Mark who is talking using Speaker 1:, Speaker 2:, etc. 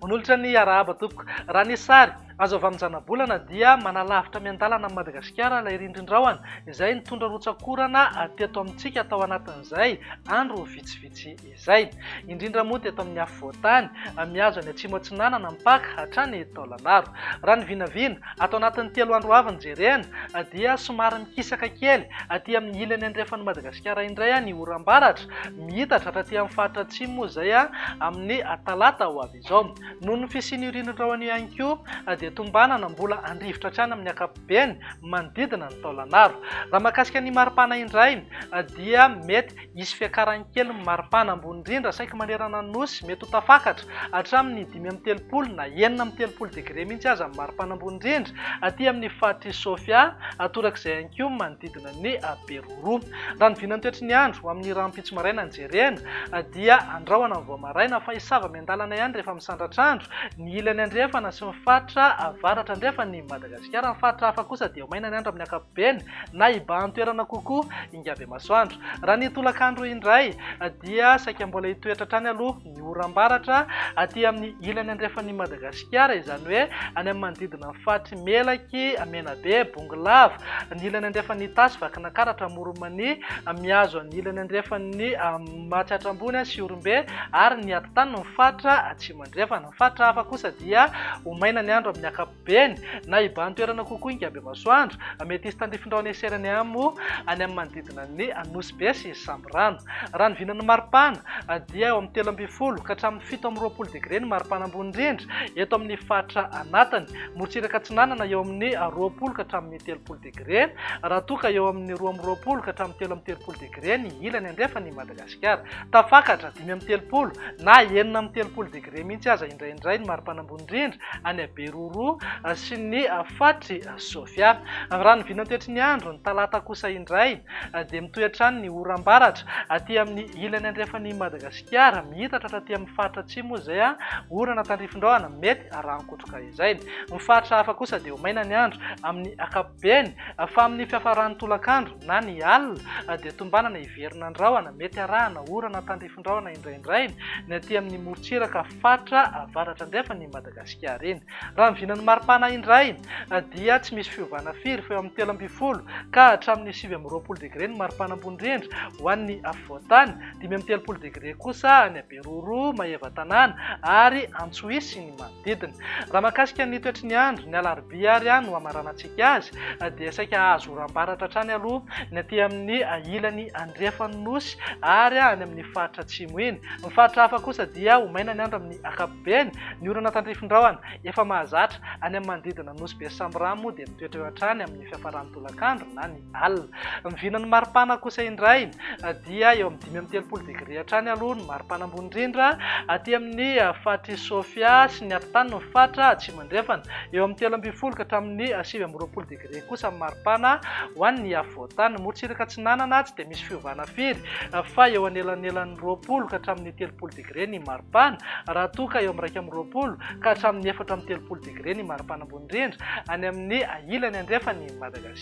Speaker 1: Manolotra ny arahaba tompoko. Raha ny sary azo avy amin'ny zanabolana dia manalavitra miandalana an'i Madagasikara ilay rindrin-drahona izay nitondra rotsak'orana teto amintsika tao anatin'izay andro vitsivitsy izay. Izay, indrindra moa teto amin'ny afovoan-tany, mihazo any Atsimo Atsinanana mpaka hatrany Taolagnaro. Raha ny vinavina, ato anatin'ny telo andro avy nojerena, dia somary mikisaka kely aty amin'ny ilany andrefan'i Madagasikara indray ny oram-baratra, mihitatra hatraty amin'ny faritra Atsimo moa izay amin'ny talata ho avy izao. Noho ny fisian'io ririndraony io ihany koa, dia tombanana mbola handrivotra hatrany amin'ny ankapobeny manodidina ny Taolagnaro. Raha mahakasika ny maripana indray, dia mety. Hisy fiakarany kely ny maripana ambony indrindra saiky manerana ny Nosy, mety ho tafakatra hatramin'ny dimy amby telopolo na enina amby telopolo degre mihitsy aza ny maripana ambony indrindra aty amin'ny faritr'i Sofia, atorak'izay ihany koa manodidina ny Beroro. Raha ny vinan'ny toetry ny andro, ho amin'ny rahampitso maraina no jerena, dia andrahona ny vao maraina fa hisy zava-miandalana ihany rehefa misandratr'andro ny ilany andrefana sy ny faritra avaratra andrefan'i Madagasikara. Ny faritra hafa kosa dia ho maina ny andro amin'ny ankapobeny na hibahan-toerana kokoa. Ingabemasoandro. Raha ny tolakandro indray dia saika mbola hitoetra hatrany aloha ny oram-baratra aty amin'ny ilany andrefan'i Madagasikara, izany hoe any amin'ny manodidina ny faritry Melaky, Menabe, Bongolava, ny ilany andrefan'ny Itasy, Vakinakaratra, Amoron'Mania, mihazo an'ny ilany andrefan'ny Matsiatra Ambony, Siorimbe ary ny atitany ny faritra Atsimo Andrefana. Ny faritra hafa kosa dia ho maina ny andro amin'ny ankapobeny. Beny, na iban-toerana kokoa Ingabemasoandro, mety hisy tandifin-drano heserany any moa any amin'ny manodidina ny Nosy-Be sy Sambirano. Raha ny vinan'ny maripana dia eo amin'ny telo ambin'ny folo ka hatramin'ny fito amby roapolo degre ny maripana ambony indrindra eto amin'ny faritra anatiny. Morotsiraka atsinanana eo amin'ny roapolo ka hatramin'ny telopolo degre raha toa ka eo amin'ny roa amby roapolo ka hatramin'ny telo amby telopolo degre ny ilany andrefan'i Madagasikara. Madagasikara. Tafakatra dimy amby telopolo na enina amby telopolo degre mihitsy aza indraindray ny maripanambony indrindra any Beroroha sy ny faritry Sofia. Raha ny vinantoetry ny andro ny talata kosa indray dia mitohy hatrany ny oram-baratra aty amin'ny ilany andrefan'i Madagasikara. Mihitatra hatraty amin'ny faritra atsimo izay orana tandrifindraona mety raha an-kotroka izay. Ny faritra hafa kosa dia ho maina ny andro amin'ny ankapobeny. Eny, fa amin'ny fiafaran'ny tolakandro na ny alina dia tombanana hiverina ny rahona, mety arahana orana tandrifindrahona indraindray ny aty amin'ny morontsiraka fatra avaratra-andrefan'i Madagasikara iny. Raha ny vinan'ny maripana indray dia tsy misy fiovana firy fa eo amin'ny telo ambin'ny folo ka hatramin'ny sivy amby roapolo degre ny maripana ambony rindra ho an'ny afovoan-tany, dimy amby telopolo degre kosa any Beroro, Maevatanàna, ary Antsohihy sy ny manodidina. Raha mahakasika ny toetry ny andro, ny alarobia ary no hamaranantsika azy, dia saika hahazo oram-baratra hatrany aloha ny aty amin'ny ilany andrefan'ny Nosy ary any amin'ny faritra atsimo iny. Ny faritra hafa kosa dia ho maina ny andro amin'ny ankapobeny. Ny orana tandrifindrahona efa mahazatra any amin'ny manodidina Nosy Besambiramo dia mitoetra eo hatrany amin'ny fiafaran'ny tolakandro na ny alina. Ny vinan'ny maripana kosa indray dia eo amin'ny dimy amby telopolo degré hatrany aloha ny maripana ambony indrindra aty amin'ny faritr'i Sofia sy ny afovoantany ny faritra Atsimo Andrefana. Eo amin'ny telo ambin'ny folo ka hatramin'ny sivy amby roapolo degré kosa ny maripana ho an'ny afovoantany. Morotsiraka Atsinanana tsy dia misy fiovana firy fa eo anelanelan'ny roapolo ka hatramin'ny telopolo degré ny maripana raha toa ka eo amin'ny iraika amby roapolo ka hatramin'ny efatra amby telopolo degré ny maripana ambony indrindra any amin'ny ilany andrefan'i Madagasikara.